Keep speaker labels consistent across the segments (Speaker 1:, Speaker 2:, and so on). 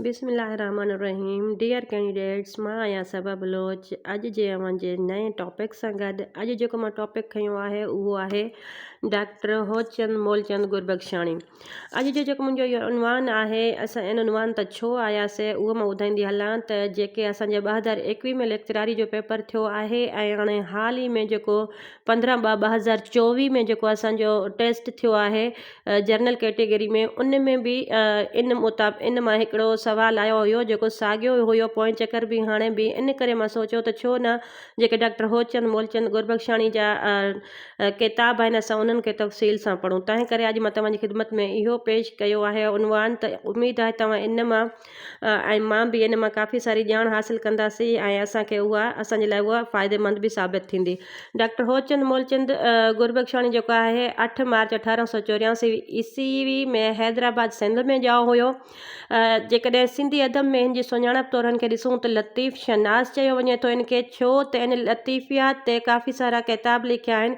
Speaker 1: بسم الله الرحمن الرحيم ڊيئر ڪينڊيڊيٽس مان آهيان صبا بلوچ اڄ جي اوهان جي نئين ٽاپڪ سان گڏ اڄ جيڪو مان ٽاپڪ کنيو آهي اهو آهي ڊاڪٽر هوچند مولچند گربخشاڻي اڄ جو جيڪو منهنجو اهو عنوان آهي اسان ان عنوان ته ڇو آياسي اهو مان ٻڌائيندي هلان ته جيڪي اسان جي ٻه هزار ايڪويهه ۾ ليڪچراري جو پيپر ٿيو آهي ۽ هاڻي حال ئي ۾ جيڪو پندرهن ٻه ٻه هزار چوويهه ۾ جيڪو اسانجو ٽيسٽ ٿيو آهي جنرل ڪيٽيگري ۾ ان ۾ به ان مطابق ان مان هڪڙو سوال آيو هيو جيڪو ساڳيو هيو پوئين چڪر به هاڻي به ان ڪري مان سوچيو ته ڇو نه جيڪي ڊاڪٽر هوچند مولچند گربخشاڻي جا ڪتاب آهن اسان انهن کي تفصيل سان پڙهون تنهن ڪري اڄ مان توهان جي خدمت ۾ اهو پيش ڪيو آهي عنوان ته اميد آهي توهان ان مان ۽ مان به ان مان ڪافي ساري ڄاڻ حاصل ڪنداسي ۽ اسانکي اها اسانجي لاء اها فائديمند به ثابت ٿيندي. ڊاڪٽر هوچند مولچند گربخشاڻي جيڪو آهي اٺ مارچ اٺارهن سؤ چورياسي عيسوي ۾ حيدرآباد سنڌ ۾ ڄائو هيو. جيڪڏهن سنڌي ادب ۾ هن جي سڃاڻپ طور هن کي ڏسون ته لطيف شناس چيو وڃي ٿو هن کي ڇو ته هن لطيفيات تي ڪافي سارا ڪتاب لکيا آهن.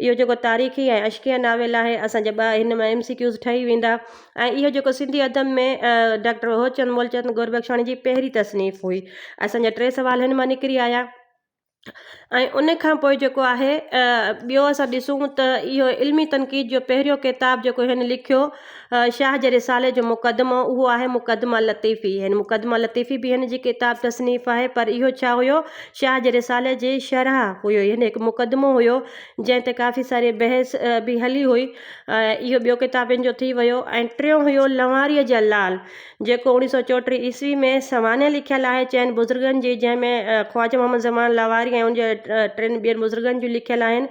Speaker 1: اهو جيڪو تاريخي ۽ عشقيه ناول آهي اسان جا ٻه هن مان ايم سي ڪيوز ٺهي ويندا ۽ اهو جيڪو سنڌي ادب ۾ ڊاڪٽر هوچند مولچند گوربخشاڻي جي پهرين تصنيف هئي اسان جا ٽي سوال هن مان نڪري آيا ۽ ان کان پوء جيڪو آهي ٻيو اسان ڏسون ته اهو علمي تنقيد جو پهريون ڪتاب جيڪو هن لکيو شاهه جي رسالي جو مقدمو اهو آهي مقدمه لطيفي هن مقدمه لطيفي به هن جي ڪتاب تصنيف آهي پر اهو ڇا هيو شاهه جي رسالي جي شرح هيو هن هڪ مقدمو هيو جنهن تي ڪافي ساري بحث به هلي هئي اهو ٻيو ڪتاب هن جو ٿي ويو ۽ ٽيون هيو لنواري جا لال جيڪو اوڻيهه سو چوٽيهه عيسوي ۾ سوانح لکيل آهي چئن بزرگن جي جنهن ۾ خواجه محمد زمان لنواري ۽ ان جي ٽن ٻين بزرگن جون لکيل آهن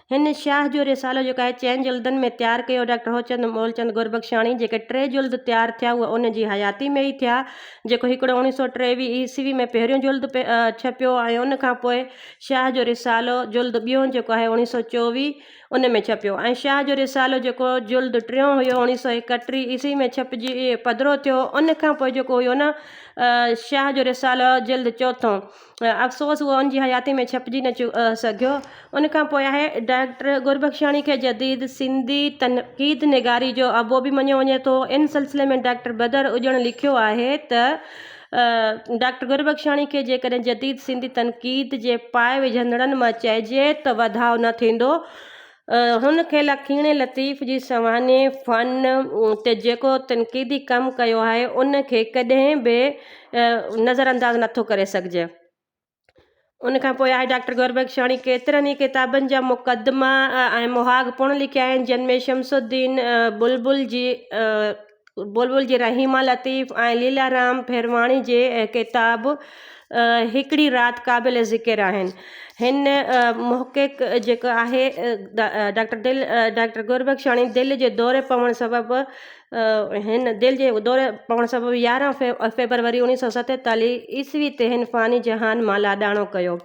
Speaker 1: هن شاهه جو رسالو جيڪو آهي چئن جلدن ۾ تيار ڪيو ڊاڪٽر هوچند مولچند گربخشاڻي جيڪي ٽي جلد تيار ٿيا اهي ان جي حياتي ۾ ئي ٿيا جيڪو هڪڙو اڻيهه سؤ ٽيويهه عيسوي ۾ پهريون جلد ڇپيو ۽ ان کان پوء شاهه جو رسالو جلد ٻيون جيڪو آهي اڻيهه سؤ چوويهه ان ۾ ڇپيو ۽ شاهه جو رسالو جيڪو جلد ٽيون هيو اڻيهه سؤ ايڪٽيهه عيسوي ۾ ڇپجي پڌرو ٿيو ان کان پوء جيڪو هيو نه شاهه جو رسالو جلد چوٿون افسوس هو ان جي حياتيء ۾ ڇپجي نه سگهيو. ان کان پوء آهي ڊاڪٽر گربخشاڻي کي جديد سنڌي تنقيد نگاري جو ابو به مڃيو وڃي ٿو. ان سلسلي ۾ ڊاڪٽر بدر اڄڻ لکيو آهي ته، ڊاڪٽر گربخشاڻي کي جيڪڏهن جديد سنڌي تنقيد جي پاء وجهندڙن مان چئجي ته وڌاء نه ٿيندو، هن کي لکيڻي لطيف جي سوانحي فن تي جيڪو تنقيدي ڪم ڪيو آهي، ان کي ڪڏهن به نظر انداز نٿو ڪري سگهجي. ان کان پوء آهي ڊاڪٽر گوربخشاڻي ڪيترن ئي ڪتابن جا مقدما ۽ مهاڳ پڻ لکيا آهن، جن ۾ شمس الدين بلبل جي بلبل جي رحيما لطيف ۽ ليلارام پھرواڻي جي ڪتاب ھڪڙي رات قابل ذڪر آھن. ھن محقق جيڪو آھي ڊاڪٽر دل ڊاڪٽر گربخشاڻي دل جي دوري پوڻ سبب ھن دل جي دوري پوڻ سبب يارھن فيبروري اوڻيھ سؤ ستيتاليھ عيسوي تي ھن فاني جھان مان لاڏاڻو ڪيو.